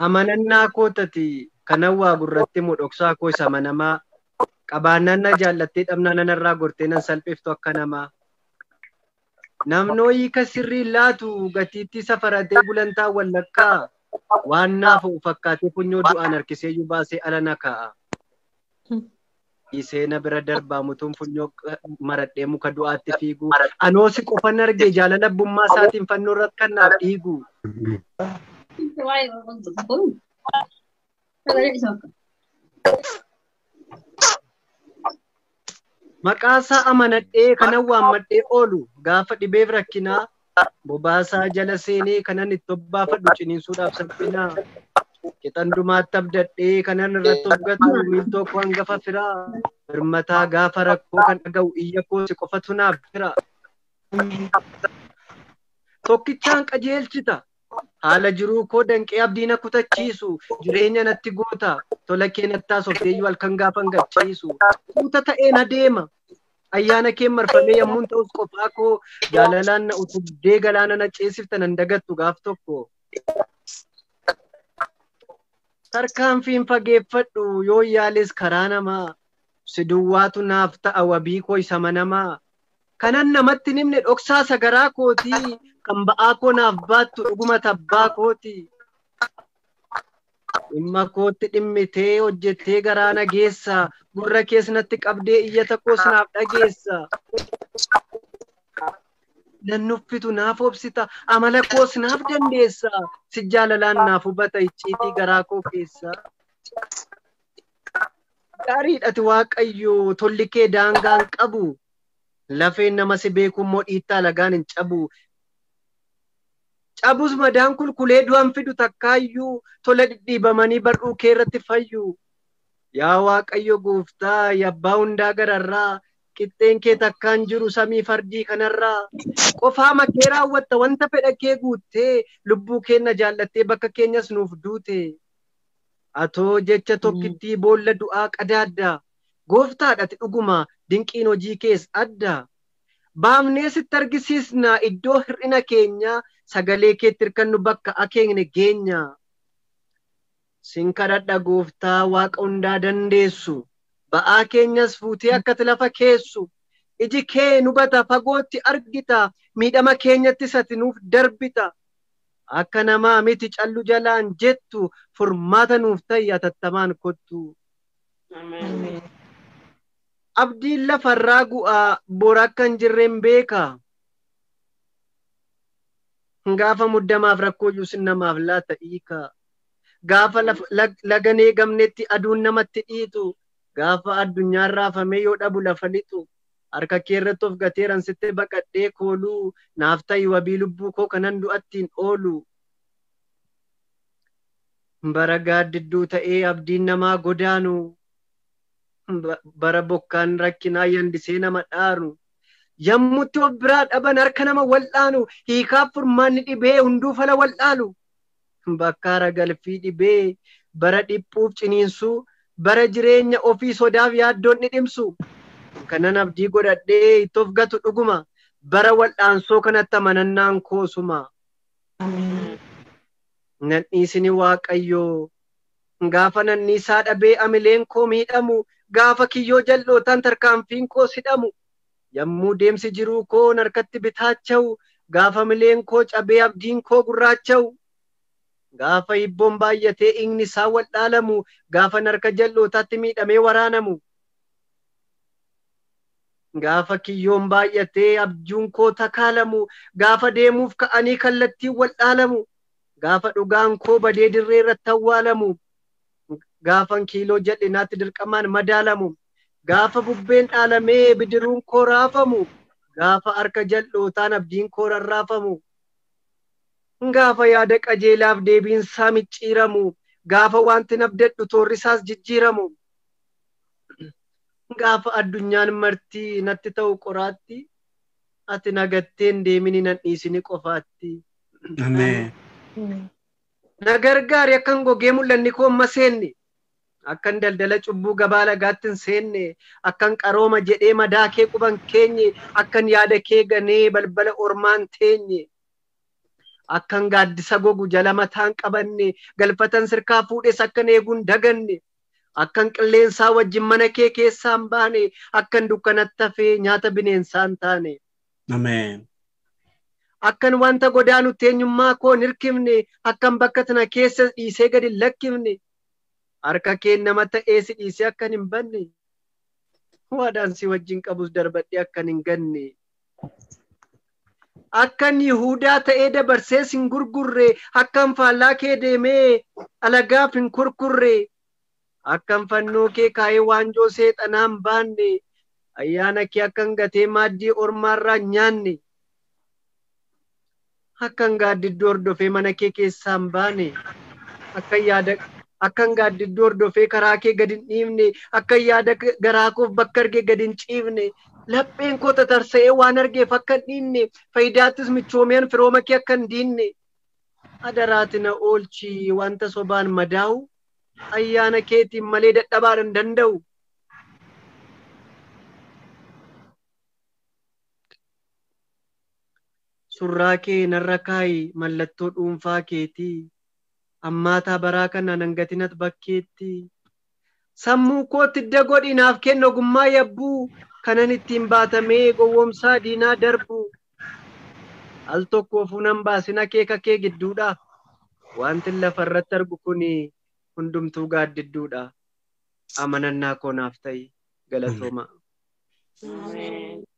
amanannaa koo tati kanan waa gurratti mu dhoksaa koo isa amanamaa qabaannaan na jaallattee dhabnaa nanarraa gortee nan salphiftu akka namaa Namnoo hiika sirriin laatu gatiittii safaratee gulantaa wallakkaa waan naafa'u fakkaatee funyoo du'aan harkiseeyyuu baasee ala na kaa'a. Dhiisee na bira darbaa mutuun funyoo maradhee muka du'aatti fiigu. Anoo si qofan argee jaalala abbummaa isaatiin fannoo irratti kan naaf dhiigu. Sagalee dhisaa akka. Maqaasaa amanadhee kanan waammadhee oolu gaafa dhibeef rakkinaa bobaasaa jala seenee kanan itti obbaafadhu ciniinsuudhaaf salphinaa qixan dumaatti abdadhee kanan irratti of gatu miiltoo koo hangafa firaa birmataa gaafa rakkoo kan dhaga'u iyya koo si qofatu naaf jira. Tokkichaan qajeelchita Haala jiruu koo danqee abdii na kutachiisu jireenya natti goota tola kee nattaa softeeyyuu halkan gaafan gadhiisu tuuta ta'een adeema ayyaana keen marfamee yammuun ta'us qophaa koo jaalalaan na utubdee galaana na ceesifta nan dagattu gaaf tokko. Tarkaanfiin fageeffadhu yoo yaales karaa namaa si duwwaatu naaf ta'a wabii koo isa manamaa kanan namatti hin himne dhoksaa sagaraa kooti kan ba'aa koo naaf baattu dhuguma tabbaa kooti. Dhimma kootti dhimmitee hojjettee garaa na geessa gurra kees natti qabdee iyyata koos naaf dhageessa. Nan nuffitu naaf obsita amala koos naaf dandeessa si jaalalaan naaf hubata icciitii garaa koo keessa. Gaariidhati waaqayyo tolli kee daangaan qabu Lafeen nama si beekuu immoo dhiittaa alagaan hin cabu. Cabus madaan kun kulee du'a hin fidu takkaayyuu tola dhidhiibamanii bar'uu kee irratti fayyu. Yaa Waaqayyo gooftaa yabbaa hundaa gararraa qixxeen kee takkaa hin jiru samii fardii kanarraa. Qofaama kee raawwatta wanta fedha kee guuttee lubbuu keenna jaallattee bakka keenyas nuuf duute. Atoo jecha tokkittii boolla du'aa qadaadda. Gooftaa dhati dhugumaa dinqiin hojii kees adda. Baafnee sitti argisiisna iddoo hir'ina keenya sagalee keetti hirkannu bakka akeekne geenya. Sin kadhadha Gooftaa Waaqa hundaa dandeessu ba'aa keenyas fuutee akkati lafa keessu. Iji kee nu hubata fagootti argita miidhama keenyattis ati nuuf darbita. Akka namaa miti callu jalaan jettu furmaata nuuf ta'i atattamaan kottu. Ameen. Abdiin lafarraa gu'aa bor akka hin jirreen beeka. Gaafa muddamaaf rakkoo iyyuu sin namaaf laata hiika. Gaafa laf- lag- lagan eegamnetti aduun namatti dhiitu. Gaafa addunyaan raafamee yoo dhabu lafa lixu. Harka kee irratti of gateeran sitti baqadhee kooluu. Naaf ta'i wabii lubbuu koo kanan du'attiin oolu. Bara gaaddidduu ta'ee abdiin namaa godaanu, bara bokkaan rakkinaa yandisee nama dhaaru, yammutti of biraa dhaban harka nama wal'aanu, hiikaaf furmaanni dhibee hunduu fala wal'aalu, bakka haragalfii dhibee, bara dhiphuuf ciniinsuu, bara jireenya ofii sodaaf yaaddoon dhidhimsu, kanan abdii godhadhee itti of gatu dhuguma, bara wal'aansoo kanatti amanannaan koo suma. nan dhiisini waaqayyoo Gaafa nan dhiisaa dhabee amileen koo miidhamu Gaafa kiyyoo jal'ootaan tarkaanfiin koos hidhamu Yammuu deemsi jiruu koo narkatti bitaachawu Gaafa mileen koo cabee abdiin koo gurraachawu Gaafa hibboon baay'atee dhiigni isaa waldhaalamu Gaafan harka jal'ootaatti miidhamee waraanamu. Gaafa kiyyoon baay'atee abjuun koo takaalamu, gaafa deemuuf ka'anii kallattiin wal dhaalamu, gaafa dhugaan koo badee dirree irratti awwaalamu, gaafan kiiloo jal'inaatti dirqamaan madaalamu, gaafa bubbeen dhaalamee bidiruun koo raafamu, gaafa harka jal'ootaan abdiin koo rarraafamu, gaafa yaada qajeelaaf deebiin isaa micciiramu, gaafa waantin abdadhu toorri isaas jijjiiramu. gaafa addunyaan marti natti ta'u qoraatti ati nagatteen deemini nan dhiisini qofaatti. Ameen. Na gargaari akkan gogee mul'anni koo amma seenne akkan daldala cubbuu gabaa lagaatti hin seenne akkan qarooma jedhee madaa kee quban keenye akkan yaada kee ganee balbala ormaan teenye. Akkan gaaddisa gogu jala mataan qabanne galfatan sirkaa fuudhes akkan eeguun daganne Akkan qilleensaa wajjin mana kee keessaa hin baane, akkan dukkanatti hafee nyaata bineensaa hin taane. Ameen. Akkan wanta godaanutti eenyummaa koo hin hirkifne, akkan bakka tana keessa si dhiisee gad hin lakkifne, harka keen nama ta'ee si dhiisee akkan hin banne, waadaan si wajjin qabus darbadhee akkan hin ganne. akkan Yihuudaa ta'ee dabarsee sin gurgurre, akkan faallaa kee deemee alagaaf hin kurkurre, akkan fannoo kee kaa'ee waanjoo seexanaa hin baanne, ayyaana kee akkan gatee maaddii ormaarraa hin nyaanne. akkan gaaddidduu hordofee mana kee keessaa hin baane akkan yaada akkan gaaddidduu hordofee karaa kee gad hin dhiifne akkan yaada garaa koof bakka arge gad hin ciifne lapheen koo tatarsa'ee waan argeef akka hin dhiinne fayidaattis michoomeen firooma kee akka hin diinne adaraati na oolchi wanta sobaan madaa'u ayyaana keetiin malee dadhabaadhan danda'u. surraa kee narra kaayi mallattoo dhuunfaa keetii ammaataa baraa kana nan gatinat bakkeetti sammuu kootti idda godhi naaf kenna ogummaa yabbuu kanan ittiin baatamee gowwomsaa diinaa darbu al tokkoofuu nan baasin akeeka kee gidduudha wantin lafa irratti argu kun hundumtuu gaaddidduudha amanannaa koo naaf ta'i galatoomaa. Ameen.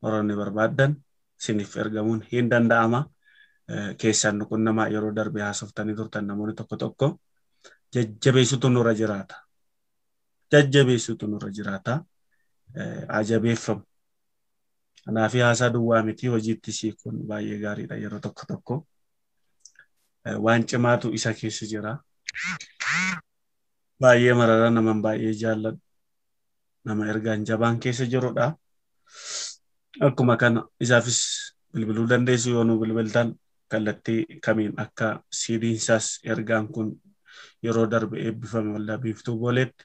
qoranne barbaaddan isiniif ergamuun hin danda'ama. Keessaan nu qunnamaa yeroo darbe haasoftanii turtan namoonni tokko tokko jajjabeessutu nurra jiraata. Jajjabeessutu nurra jiraata. Ajabeeffamu. Kanaaf haasaa duwwaa miti hojiitti siikuun baay'ee gaariidha yeroo tokko tokko. Waan cimaatu isa keessa jira. Baay'ee marara naman baay'ee jaalladhu. nama ergaan jabaan keessa jirudha. Akkuma kana isaafis bilbiluu dandeessu yoo nu bilbiltan kallattii kamiin akka siidiin isaas ergaan kun yeroo darbe eebbifame waldaa biiftuu booleetti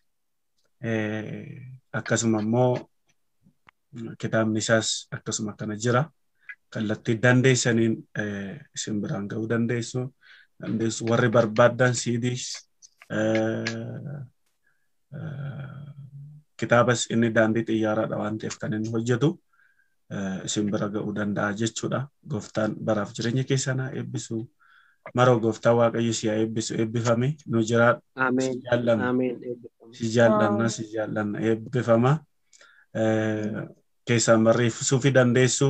akkasuma immoo kitaabni isaas akkasuma kana jira. Kallattii dandeessaniin isin biraan ga'uu dandeessu. Dandeessu warri barbaaddan siidiis kitaabas inni daandii xiyyaaraadha waan ta'eef kan inni hojjetu isin bira ga'uu danda'a jechuudha. Gooftaan baraaf jireenya keessan haa eebbisu. Maroo gooftaa waaqayyo si haa eebbisu eebbifame nu jiraadhu. Si Ameen. jaallanna. Ameen. Eebbifama. Si jaallanna si jaallanna eebbifama. Eh, Keessaan barreessuu fi dandeessu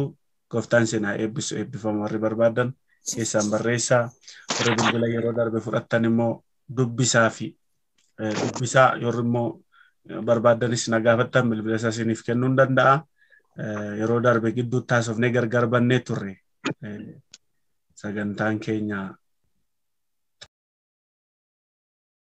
gooftaan isin haa eebbisu eebbifama warri barbaadan keessaan barreessaa warri bilbila yeroo darbe fudhattan immoo dubbisaa fi dubbisaa yeroo immoo barbaaddanis na gaafattan bilbila isaa isiniif kennuu nan danda'a. Yeroo darbe gidduutti haasofnee gargar bannee turre. Sagantaan keenya